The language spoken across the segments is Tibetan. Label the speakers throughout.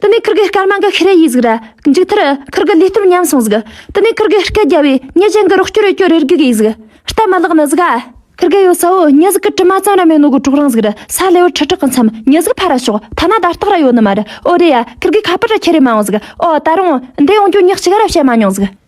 Speaker 1: དེ་ནས་ཁིར་གི་སྐར་མ་འགའ་ཤི་རེ་ཡིས་གཟིགས་ར་མཇུག་མཐར་ཁིར་གི་ལུས་སྟོབས་ཉམས་སོང་གཟིགས་དེ་ནས་ཁིར་གི་སྐད་རྒྱ་བས་མྱི་གཞན་གི་རོགས་སྐྱོར་རེ་སྐྱོར་རེར་གུས་གིས་གཟིགས་སྟབས་མ་ལགས་ནི་གཟིགས་ཨ། ཁིར་གི་ཡོད་ས་བོ་མྱི་གཟིགས་ཀི་དྲི་མ་ཙམ་ར་མེད་ནོ་གུ་དྲོག་རང་གཟིགས་ར་ས་ལེ་བོ་ཁྲི་ཁྲག་གི་མཚམས་མྱི་གཟིགས་ཕ་ར་ཤོག་ཐ་ན་དར་སྟག་ར་ཡོད་ནི་མ་རེད་ཨོ་རེད་ཡ་ཁིར་གི་ཁ་པར་ར་ཁྱེད་རེ་མ་འོང་གཟིགས་ཨོ་ད་རུང་འདས་ཡོང་རྒྱུ་མྱི་གཅིག་ར་བཤད་མ་མྱོང་གཟིགས།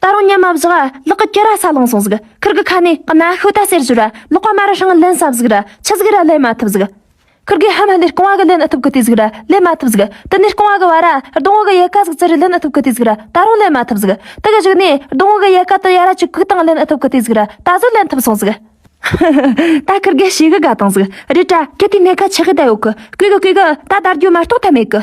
Speaker 1: ད་རུང་ཉམས་མ་བཞག་ཨ་ལགས་ཀྱི་སྐེ་ར་ས་ལངས་སོང་ཟིག་ཁུར་གི་ཁ་ནས་གནའ་ཤུལ་ད་ཟེར་ཟུར་ཨ་ལགས་པ་མ་ར་ཧྲང་ལན་ཟབ་ཟིག་ར་ཆི་ཟིག་ར་ལན་མ་ཐུབ་ཟིག་ཁུར་གི་ཧ་མ་ལས་རྐང་བ་གི་ལན་ཨ་ཐུབ་གི་དེ་ཟིག་ར་ལན་མ་ཐུབ་ཟིག་དེ་ནས་རྐང་བ་གི་བ་ར་རྡུང་བ་གི་ཡལ་ག་ཟིག་ཙི་རི་ལན་ཨ་ཐུབ་གི་དེ་ཟིག་ར་ད་རུང་ལན་མ་ཐུབ་ཟིག་དེ་གི་གཞུག་ནས་རྡུང་བ་གི་ཡལ་ག་དུ་ཡ་ར་ཅིག་གུག་དང་ལན་ཨ་ཐུབ་གི་དེ་ཟིག་ར་ད་གཟོད་ལན་ཐུབ་སོང་ཟིག་ཧཧཧ་ད་ཁུར་གི་ཤེས་གི་དགའ་དང་ཟིག་རི་བཀྲ་ཁྱེད་དེའི་སྣེ་ཁ་ཆགས་གི་ད་ཡོད་གི་སྐུས་གི་སྐུས་གི་ད་དར་རྒྱུ་མ་རྟོགས་ཐབས་མེད་གི།